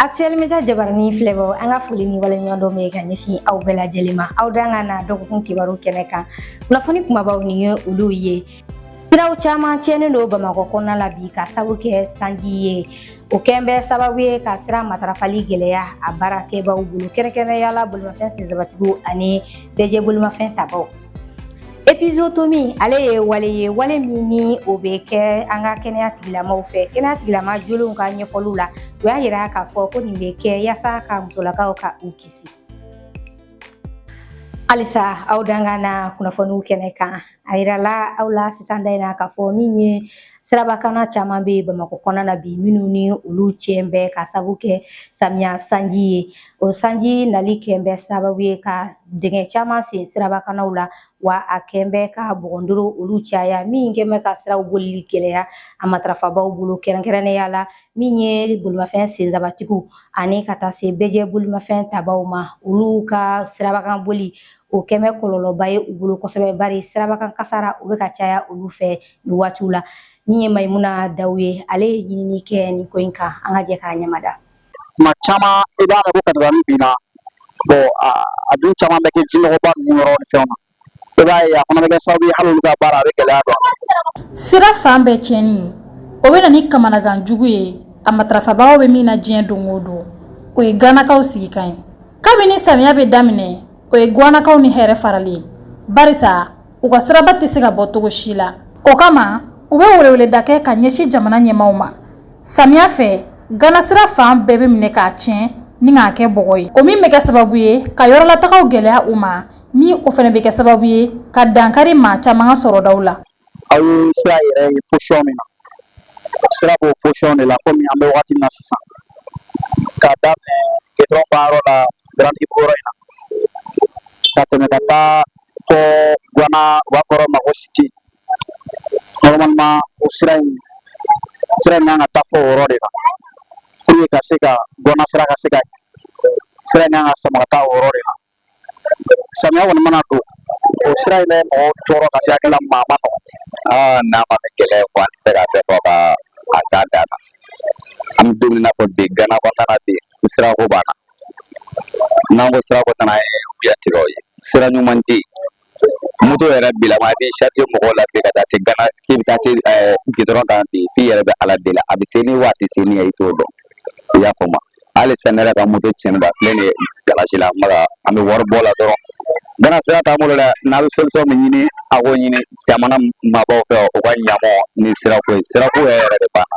Actuel Media jabaranin filɛbaaw an ka foli ni waleɲumandɔn bɛ ka ɲɛsin aw bɛɛ lajɛlen ma aw danga na dɔgɔkun kibaru kɛnɛ kan kunnafoni kumabaw nin ye olu ye siraw caman tiɲɛnen don bamakɔ kɔnɔna la bi ka sabu kɛ sanji ye o kɛn bɛ sababu ye ka sira matarafali gɛlɛya a baarakɛbaaw bolo kɛrɛnkɛrɛnnenya la bolimafɛn senzabatigiw ani bɛɛjɛ bolimafɛn tabaw Epizotomi ale ye wale ye wale min ni o bɛ kɛ an ka kɛnɛya tigilamaw fɛ kɛnɛya tigilama jolenw ka ɲɛfɔliw la u y'a yira k'a fɔ ko nin bɛ kɛ yaasa ka musolakaw ka u kisi halisa aw danga na kunnafoniw kɛnɛ kan a yirala aw la sisan da in na k'a fɔ min ye Sirabakanna caman bɛ Bamakɔ kɔnɔna na bi minnu ni olu tiɲɛ bɛ ka sabu kɛ samiya sanji ye o sanji nali kɛn bɛ sababu ye ka dingɛ caman sen sirabakannaw la wa a kɛn bɛ ka bɔgɔndoro olu caya min kɛn bɛ ka siraw bolili gɛlɛya a matarafabaw bolo kɛrɛnkɛrɛnnenya la min ye bolimafɛn senzabatigiw ani ka taa se bɛɛjɛ bolimafɛn tabaw ma olu ka sirabakan boli o kɛn bɛ kɔlɔlɔba ye u bolo kosɛbɛ bari sirabakan kasara o bɛ ka caya olu fɛ nin waatiw la min ye Mayimuna Dawu ye ale ye ɲinini kɛ nin ko in kan an ka jɛ k'a ɲɛmada tuma caman i b'a mɛn ko katabani binna bon a dun caman bɛ kɛ jinɔgɔba ninnu yɔrɔ ni fɛnw na i b'a ye a fana bɛ kɛ sababu ye hali olu ka baara a bɛ gɛlɛya don sira fan bɛɛ tiɲɛni o bɛ na ni kamanagan jugu ye a matarafabagaw bɛ min na diɲɛ don o don o ye ganakaw sigikan ye kabini samiya bɛ daminɛ o ye guwanakaw ni hɛrɛ farali ye barisa u ka siraba tɛ se ka bɔ cogo si la o kama u bɛ weleweleda kɛ ka ɲɛsin jamana ɲɛmaaw ma samiya fɛ gana sira fan bɛɛ bɛ minɛ k'a tiɲɛ ni k'a kɛ bɔgɔ ye o min bɛ kɛ sababu ye ka yɔrɔlatagaw gɛlɛya u ma ni o fana bɛ kɛ sababu ye ka dankari maa caman ka sɔrɔdaw la aw ye sira yɛrɛ ye position min na sira b'o position de la komi an bɛ waati min na sisan k'a daminɛ gidɔrɔn baarayɔrɔ la grand ibu yɔrɔ in na ka tɛmɛ ka taa fɔ guana u b'a fɔ yɔrɔ ma ko cité normalement o sira in sira in kan ka taa fɔ o yɔrɔ de la pour que ka se ka guana sira ka se ka sira in kan ka sama ka taa o yɔrɔ de la samiya kɔni mana don o sira in bɛ mɔgɔw tɔɔrɔ ka se hakili la maa ma nɔgɔn aa n'a ma kɛ kɛlɛ ye an tɛ se ka bɛɛ fɔ ka a s'a dan na an bɛ don min na fɔ bi gana kɔnɔna na bi sirako b'an na n'an ko sirako t'an na an ye wuya tigɛ o ye sira ɲuman tɛ yen moto yɛrɛ b'i la mais a b'i charger mɔgɔw la ten ka taa se gana k'i bɛ taa se ɛɛ gidɔrɔn kan ten f'i yɛrɛ bɛ ala deli a bɛ se ni waati se ni ye i t'o dɔn i y'a faamu hali sisan ne yɛrɛ ka moto tiɲɛnen b'a filɛ nin ye garazi la maka an bɛ wari bɔ o la dɔrɔn gana sira t'an bolo dɛ n'a bɛ solution min ɲini a k'o ɲini jamana marabaaw fɛ u ka ɲ'an ma ni sirako ye sirako yɛrɛ yɛrɛ de b'an na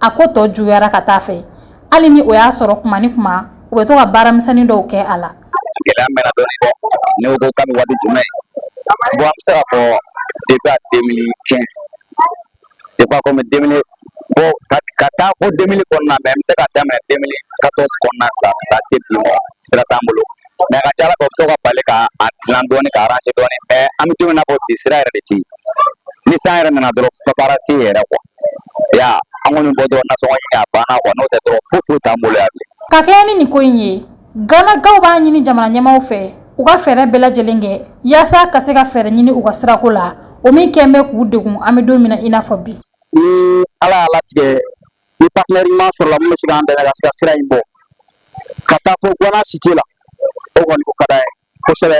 a ko tɔ juguyara ka taa fɛ hali ni o y'a sɔrɔ kuma ni kuma u bɛ to ka baaramisɛnnin dɔw kɛ a la gɛlɛya mɛnna dɔɔni bɔ ne ko kabini waati jumɛn bon an bɛ se k'a fɔ depuis à 2015 c'est pas comme 2000 bon ka ka taa fo 2000 kɔnɔna mais an bɛ se ka daminɛ 2014 kɔnɔna la ka taa se bi ma sira t'an bolo mais a ka ca a la fɛ u bɛ to ka bali ka a dilan dɔɔni ka arranger dɔɔni mais an bɛ don min na ko bi sira yɛrɛ de tɛ yen ni san yɛrɛ nana dɔrɔn baara tɛ yen yɛrɛ quoi ya an kɔni bɔ dɔrɔn nasɔngɔ ɲini a banna quoi n'o tɛ dɔrɔn foyi foyi t'an bolo yan bilen. ka kɛɲɛ ni nin ko in ye ganakaw b'a ɲini jamana ɲɛmaaw fɛ u ka fɛɛrɛ bɛɛ lajɛlen kɛ yaasa ka se ka fɛɛrɛ ɲini u ka sirako la o min kɛlen bɛ k'u degun an bɛ don min na i n'a fɔ bi. ni ala y'a latigɛ ni partenaire ɲuman sɔrɔla min bɛ se k'an dɛmɛ ka se ka sira in bɔ ka taa fo guana cité la o kɔni o ka d'an ye. kosɛbɛ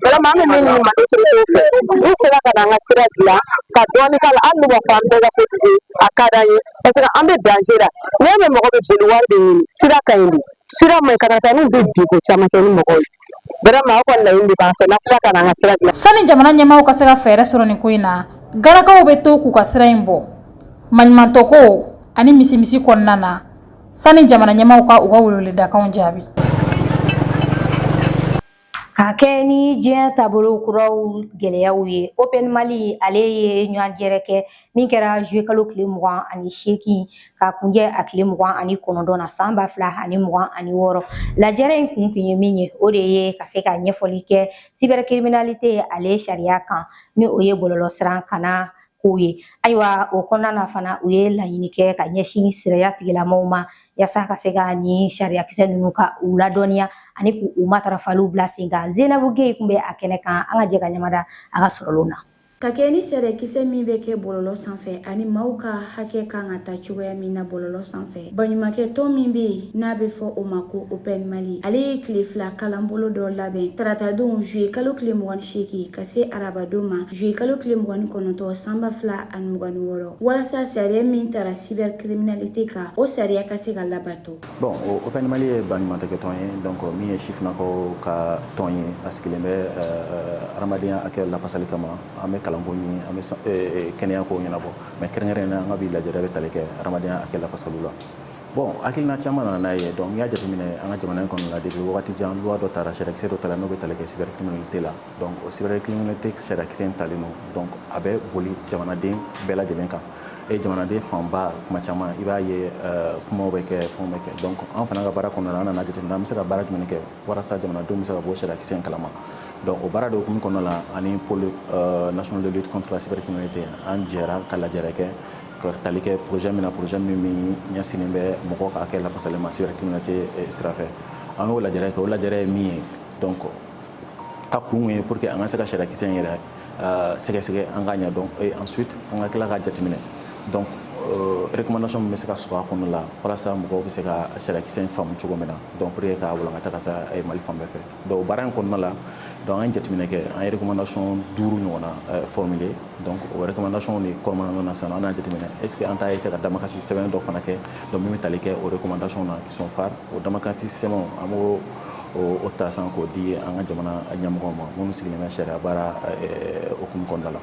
vraiment an bɛ min ɲini autorités fɛ n'u sera ka na an ka sira dilan ka dɔɔni k'a la hali n'u b'a fɔ an bɛɛ ka cotiser a ka d'an ye parce que an bɛ danger la n'i y'a mɛn mɔgɔ bɛ boli wari de ɲini sira ka ɲi de sira man ɲi katakataniw bɛ bin ko caman kɛ ni mɔgɔw ye vraiment aw ka laɲini de b'an fɛ n'u sera ka na an ka sira dilan sani jamana ɲɛmaaw ka se ka fɛɛrɛ sɔrɔ nin ko in na ganakaw bɛ to k'u ka sira in bɔ maɲumantɔko ani misimisi kɔnɔna na Sani jamana ɲɛmaaw ka u ka weleweledakanw jaabi Ka kɛɲɛ ni diɲɛ taabolo kuraw gɛlɛyaw ye Open Mali ale ye lajɛrɛ kɛ min kɛra juillet kalo tile mugan ani seegin ka kuncɛ a tile mugan ani kɔnɔntɔn na san ba fila ani mugan ani wɔɔrɔ lajɛrɛ in kun tun ye min ye o de ye ka se ka ɲɛfɔli kɛ cybercriminalité ale sariya kan ni o ye bɔlɔlɔsira kanna kow ye ayiwa o kɔnɔna na fana u ye laɲini kɛ ka ɲɛsin sariya tigilamɔgɔw ma yaasa ka se ka nin sariyakisɛ ninnu ka u ladɔnniya ani k'u u matarafaliw bila sen kan zenabu geye tun bɛ a kɛnɛ kan an ka jɛ ka ɲɛmada a ka sɔrɔlenw na ka kɛɲɛ ni sariyakisɛ min bɛ kɛ bɔlɔlɔ sanfɛ ani maaw ka hakɛ kan ka ta cogoya min na bɔlɔlɔ sanfɛ baɲumankɛ tɔn min bɛ yen n'a bɛ fɔ o ma ko open mali ale ye tile fila kalanbolo dɔ labɛn taratadon juillet kalo tile mugan ni seegin ka se arabadon ma juillet kalo tile mugan ni kɔnɔntɔn san ba fila ani mugan ni wɔɔrɔ walasa sariya min tara cybercriminalité kan o sariya ka se ka labato bon open mali ye baɲumankɛ tɔn ye donc min ye sifinnakaw ka tɔn ye a sigilen bɛ euh, euh, hadamadenya hakɛ lafasali kama an bɛ kalanko ɲini an bɛ euh, kɛnɛya kow ɲɛnabɔ mais kɛrɛnkɛrɛnnen an ka bi lajɛrɛ bɛ tali kɛ hadamadenya hakɛ lafasaliw la bon hakilina caman nana n'a ye donc n'i y'a jateminɛ an ka jamana kɔnɔna la depuis waati jan loi dɔ tara sariyakisɛ dɔ tara n'o bɛ tali kɛ cybercriminalité la o cybercriminalité sariyakisɛ in talen don a bɛ boli jamanaden bɛɛ lajɛlen kan e jamanaden fanba kuma caman i b'a ye kuma bɛ kɛ fɛn bɛ kɛ donc an fana ka baara kɔnɔ an nana jateminɛ an bɛ se ka baara jumɛn kɛ walasa jamanadenw bɛ se ka bɔ sariyakisɛ in kalama Don o baara de tun kɔnɔ la ani paul nasonononditilasipereri kɔnɔye ten an jɛra ka lajɛɛrɛ kɛ ka tali kɛ pzy min na pzy min min ɲɛ sen bɛ mɔgɔ ka kɛ lafasali ma sete sira an y'o lajɛ kɛ o lajɛ ye min ye dɔn kɔ a kun ye po que an ka se ka sirakisɛsɛ in yɛrɛ sɛgɛsɛgɛ an ka ɲɛ dɔn an su an ka tila ka jateminɛ ereksɔ bɛ se ka su a kɔnɔ la walasa mɔgɔw bɛ se ka sirakisɛsɛ in faamumu cogo min na dɔnur ye k'a walankata ka taa mali fan bɛɛ fɛ Donc baara in kɔnɔna la donc an ye jateminɛ kɛ an ye recommandation duuru ɲɔgɔnna formuler donc o recommandation de kɔnɔna na sisan an y'a jateminɛ est ce que an t'a essayer ka damakasi sɛbɛn dɔ fana kɛ donc min bɛ tali kɛ o recommandation na qui sont phares o damakasi sɛbɛnw an b'o ta san k'o di an ka jamana ɲɛmɔgɔw ma minnu sigilen bɛ sariya baara hukumu kɔnɔna la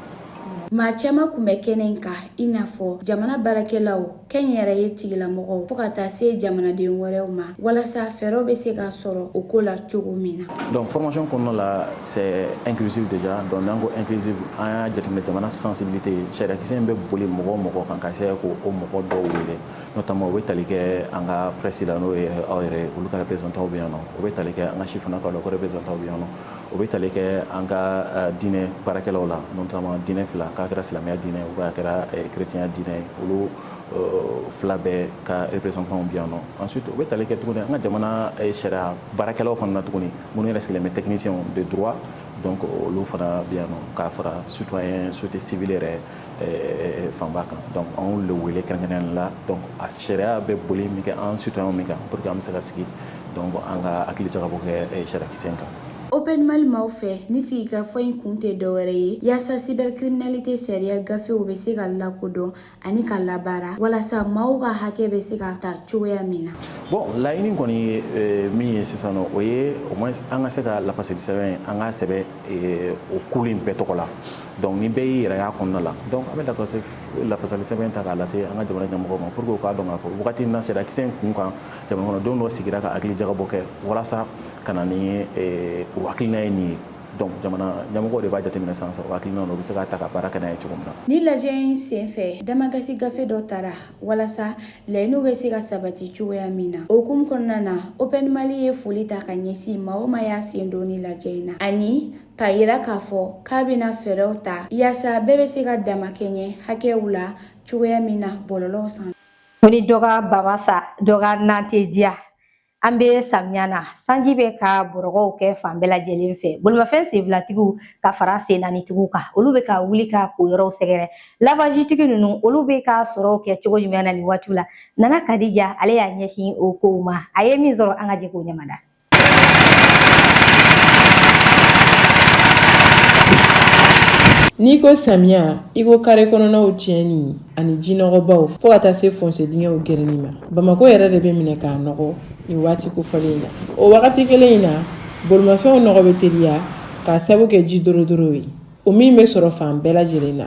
maa caman tun bɛ kɛnɛ in kan i n'a fɔ jamana baarakɛlaw kɛnyɛrɛye tigilamɔgɔw fo ka taa se jamanaden wɛrɛw ma walasa fɛɛrɛw bɛ se ka sɔrɔ o ko la cogo min na. Donc formation kɔnɔna la c'est inclusive déjà donc n'an ko inclusive an y'a jateminɛ jamana sensibilité ye sariyakisɛ in bɛ boli mɔgɔ o mɔgɔ kan ka se k'o mɔgɔ dɔw wele notamment o bɛ tali kɛ an ka presse la n'o ye aw yɛrɛ olu ka représentant bɛ yan nɔ o bɛ tali kɛ an ka sifinnakaw la u ka représentant bɛ yan nɔ o bɛ tali kɛ an ka diinɛ baarakɛlaw la notamment diinɛ fila k'a kɛra silamɛya diinɛ ou bien a kɛra chrétienya diinɛ ye olu fila bɛɛ ka représentants bɛ yan nɔ ensuite o bɛ tali kɛ tuguni an ka jamana sariya baarakɛlaw fana na tuguni minnu yɛrɛ sigilen bɛ techniciens de droit donc olu fana bɛ yan nɔ k'a fara citoyen société civile yɛrɛ fanba kan donc an y'olu le wele kɛrɛnkɛrɛnnen la donc a sariya bɛ boli min kɛ an citoyen min kan pour que an bɛ se ka sigi donc an ka hakili jagabɔ kɛ sariyakisɛ in kan Open Mali maaw fɛ ni sigikafɔ in kun tɛ dɔwɛrɛ ye yaasa cybercriminalité sariya gafew bɛ se ka lakodɔn ani ka labaara walasa maaw ka hakɛ bɛ se ka ta cogoya min na bon laɲini kɔni ye min ye sisan nɔ o ye au moins an ka se ka lafasali sɛbɛn an ka sɛbɛn o kulu in bɛɛ tɔgɔ la Donc ni bɛɛ y'i yɛrɛ y'a kɔnɔna la donc an bɛ lafasali sɛbɛn ta k'a lase an ka jamana ɲɛmɔgɔw ma pour que u k'a dɔn k'a fɔ waati in na sariyakisɛ in kun kan jamanaden dɔ sigira ka hakili jagabɔ kɛ walasa ka na ni o hakilina ye nin ye jamana ɲɛmɔgɔw de b'a jateminɛ sisan o hakilina u bɛ se k'a ta ka baara kɛ n'a ye cogo min na ni lajɛ in senfɛ damakasi gafe dɔ taara walasa laɲiniw bɛ se ka sabati cogoya min na o hukumu kɔnɔna na Open Mali ye foli ta ka ɲɛsin maa o maa y'a sen don ni lajɛ in na ani k'a yira k'a fɔ k'a bɛna fɛɛrɛw ta yaasa bɛɛ bɛ se ka damakɛɲɛ hakɛw la cogoya min na bɔlɔlɔw sanfɛ. Ko ni dɔ ka ba ma sa dɔ ka na tɛ diya an bɛ samiya na sanji bɛ ka bɔrɔgɔw kɛ fan bɛɛ lajɛlen fɛ bolimafɛn senfilatigiw ka fara sennanitigiw kan olu bɛ ka wuli ka ko yɔrɔw sɛgɛrɛ lavazitigi ninnu olu bɛ ka sɔrɔw kɛ cogo jumɛn na nin waatiw la Nana Kadija ale y'a ɲɛsin o kow ma a ye min sɔrɔ an ka jɛ k'o ɲɛmada N'i ko samiya i ko kare kɔnɔnaw tiɲɛni ani jinɔgɔbaw fo ka taa se fonse dingɛw gɛrɛni ma bamakɔ yɛrɛ de bɛ minɛ k'a nɔgɔ nin waati kofɔlen in na o wagati kelen in na bolimafɛnw nɔgɔ bɛ teliya k'a sabu kɛ ji dorodoro ye o min bɛ sɔrɔ fan bɛɛ lajɛlen na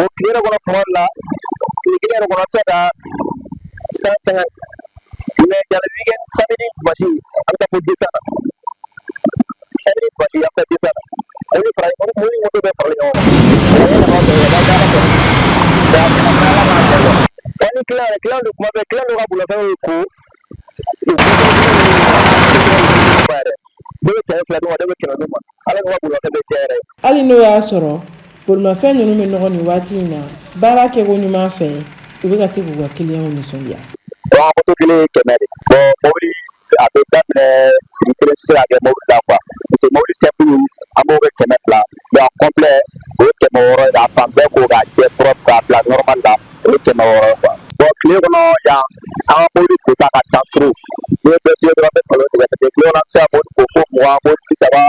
o tile yɛrɛ kɔnɔ kuma la tile kelen yɛrɛ kɔnɔ se ka san sɛgɛn mɛ jarabi kɛ samedi basi an bɛ taa fo desa la samedi basi an bɛ taa desa la o ni fara o ni moto bɛ fara ɲɔgɔn kan o ni kila yɛrɛ kila don kuma bɛɛ kila don ka bolofɛnw ko hali n'o y'a sɔrɔ bolimafɛn ninnu bɛ nɔgɔ nin waati in na baara kɛko ɲuman fɛ u bɛ ka se k'u ka kiliyanw nisɔndiya bon moto kelen ye kɛmɛ de bon mobili a bɛ daminɛ prix kelen tɛ se ka kɛ mobili la quoi parce que mobili simple an b'o kɛ kɛmɛ fila mais a complet o ye kɛmɛ wɔɔrɔ ye k'a fan bɛɛ ko k'a jɛ propre k'a bila normal la o ye kɛmɛ wɔɔrɔ ye quoi bon tile kɔnɔ yan an ka mobili kota ka ca trop n'i ye bɛɛ f'i ye dɔrɔn an bɛ kalon tigɛ parce que tile kɔnɔ an bɛ se ka mobili ko fo mugan mobili bi saba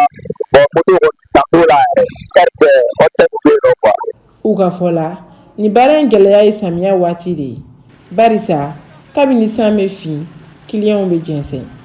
bon moto kɔni dan t'o la yɛrɛ heure bɛɛ o de bɛ yen nɔ quoi. u ka fɔ la nin baara in gɛlɛya ye samiya waati de ye barisa kabini san bɛ fin kiliyanw bɛ jɛnsɛn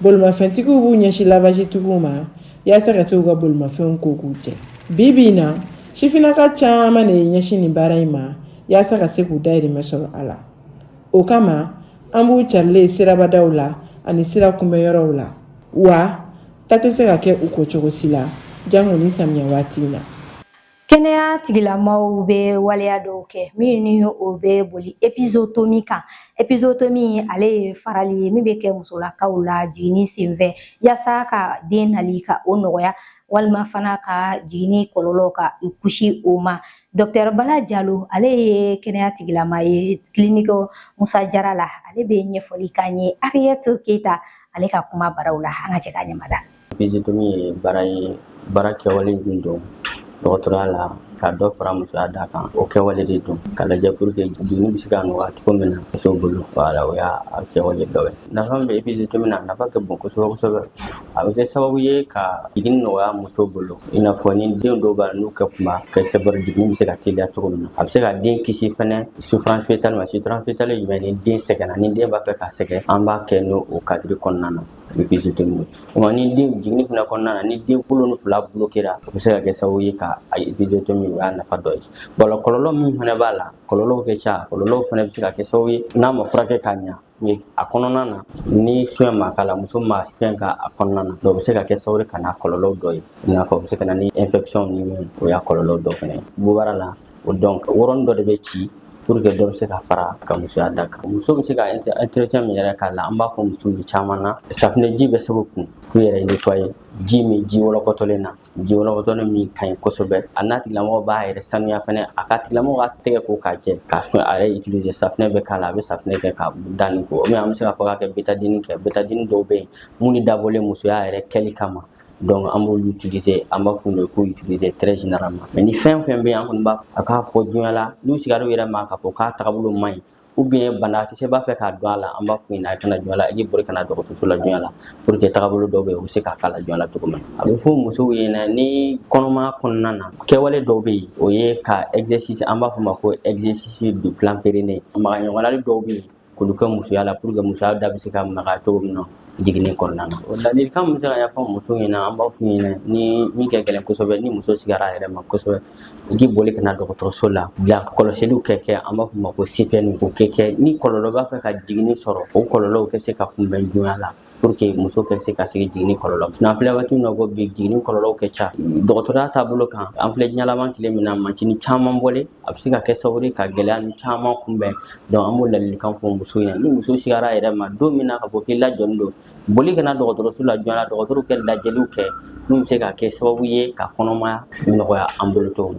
Bolimafɛntigiw b'u ɲɛsin lavazitigiw ma yasa ka se k'u ka bolimafɛnw ko k'u jɛ bi bi in na sifinaka caman de ye ɲɛsin nin baara in ma yasa ka se k'u dahirimɛ sɔrɔ a la o kama an b'u carilen ye sirabadaw la ani sira kunbɛn yɔrɔw la wa taa tɛ se ka kɛ u kɔ cogo si la janko ni samiya waati in na Kɛnɛya tigilamaw bɛ waleya dɔw kɛ min ni o bɛ boli epizotomi kan epizotomi ale ye farali ye min bɛ kɛ musolakaw la jiginni senfɛ yasa ka den nali ka o nɔgɔya walima fana ka jiginni kɔlɔlɔ ka u kisi o ma dɔkitɛri bala jalo ale ye kɛnɛya tigilama ye kiliniki musa jara la ale bɛ ɲɛfɔli k'an ye ariyɛti keyita ale ka kuma baraw la an ka jɛ k'a ɲɛmada Epizotomi ye baara ye baara kɛwale min don dɔgɔtɔrɔya la ka dɔ fara musoya da kan o kɛwale de don ka lajɛ pour que jiginni bɛ se ka nɔgɔya cogo min na muso bolo voilà o y'a kɛwale dɔ ye nafa bɛ epizotomi na nafa ka bon kosɛbɛ kosɛbɛ a bɛ kɛ sababu ye ka jiginni nɔgɔya muso bolo i n'a fɔ ni den dɔw b'a la n'u kɛ kunba kosɛbɛ jiginni bɛ se ka teliya cogo min na a bɛ se ka den kisi fɛnɛ souffrance fœtale ma souffrance fœtale ye jumɛn ni den sɛgɛnna ni den b'a fɛ ka sɛgɛn an b'a kɛ n'o o cadre kɔnɔna na épisiotomie ni den jiginni fana kɔnɔna na ni den kolo fila bloquera o bɛ se ka kɛ sababu ye ka épisiotomie o y'a nafa dɔ ye wala kɔlɔlɔ min fana b'a la kɔlɔlɔw kɛ ca kɔlɔlɔw fana bɛ se ka kɛ sababu ye n'a ma furakɛ ka ɲa a kɔnɔna na ni fɛn ma k'a la muso ma fɛn k'a kɔnɔna na o bɛ se ka kɛ sababu ka na kɔlɔlɔ dɔ ye i n'a fɔ o bɛ se ka na ni infection ni o y'a kɔlɔlɔ dɔ fana ye bubara la o donc yɔrɔnin dɔ de bɛ ci pour que dɔ bɛ se ka fara ka musoya da kan muso bɛ se ka entretien min yɛrɛ k'a la an b'a fɔ muso ye caman na safinɛji bɛ se k'u kun k'u yɛrɛ nettoyer ji min ji wɔlɔkɔtɔlen na ji wɔlɔkɔtɔlen min ka ɲi kosɛbɛ a n'a tigilamɔgɔ b'a yɛrɛ sanuya fɛnɛ a ka tigilamɔgɔ ka tɛgɛ ko k'a jɛ k'a fɛn a yɛrɛ utiliser safinɛ bɛ k'a la a bɛ safinɛ kɛ k'a da nin ko ou bien an bɛ se k'a fɔ k'a kɛ betadini kɛ betadini dɔw bɛ yen minnu dabɔlen musoya yɛrɛ kɛli kama donc an b'olu utiliser an b'a f'u ye k'o utiliser très généralement mais ni fɛn fɛn bɛ an kɔni b'a a k'a fɔ joona la n'u sigara u yɛrɛ ma k'a fɔ k'a tagabolo man ɲi ou bien banakisɛ b'a fɛ k'a don a la an b'a f'u ɲɛna a ka na joona la i k'i boli ka na dɔgɔtɔrɔso la joona la pour que tagabolo dɔw bɛ yen u bɛ se k'a k'a la joona la cogo min a bɛ fɔ musow ɲɛna ni kɔnɔmaya kɔnɔna na kɛwale dɔw bɛ yen o ye ka exercice an b'a fɔ o ma ko exercice du plan périnée magaɲɔgɔnna dɔw bɛ yen k'olu kɛ musoya la pour que musoya da bɛ se ka maga cogo min na jiginni kɔnɔna na o ladilikan min bɛ se ka ɲɛfɔ muso ɲɛna an b'a f'u ɲɛna ni min ka gɛlɛn kosɛbɛ ni muso sigara a yɛrɛ ma kosɛbɛ u k'i boli ka na dɔgɔtɔrɔso la bila kɔlɔsiliw kɛ kɛ an b'a f'o ma ko CPN o kɛ kɛ ni kɔlɔlɔ b'a fɛ ka jiginni sɔrɔ o kɔlɔlɔw ka se ka kunbɛn joona la pour que muso ka se ka kisi jiginni kɔlɔlɔ ma n'an filɛ waati min na ko bi jiginni kɔlɔlɔw ka ca dɔgɔtɔrɔya taabolo kan an filɛ diɲɛ laban tile min na machine caman bɔlen a bɛ se ka kɛ sababu ye ka gɛlɛya nin caman kunbɛn donc an b'o ladilikan fɔ muso ɲɛna ni muso sigara a yɛrɛ ma don min na ka fɔ k'i lajɔlen don boli ka na dɔgɔtɔrɔso la joona dɔgɔtɔrɔw kɛ lajɛliw kɛ min bɛ se ka kɛ sababu ye ka kɔnɔmaya nɔgɔya an bolo cogo min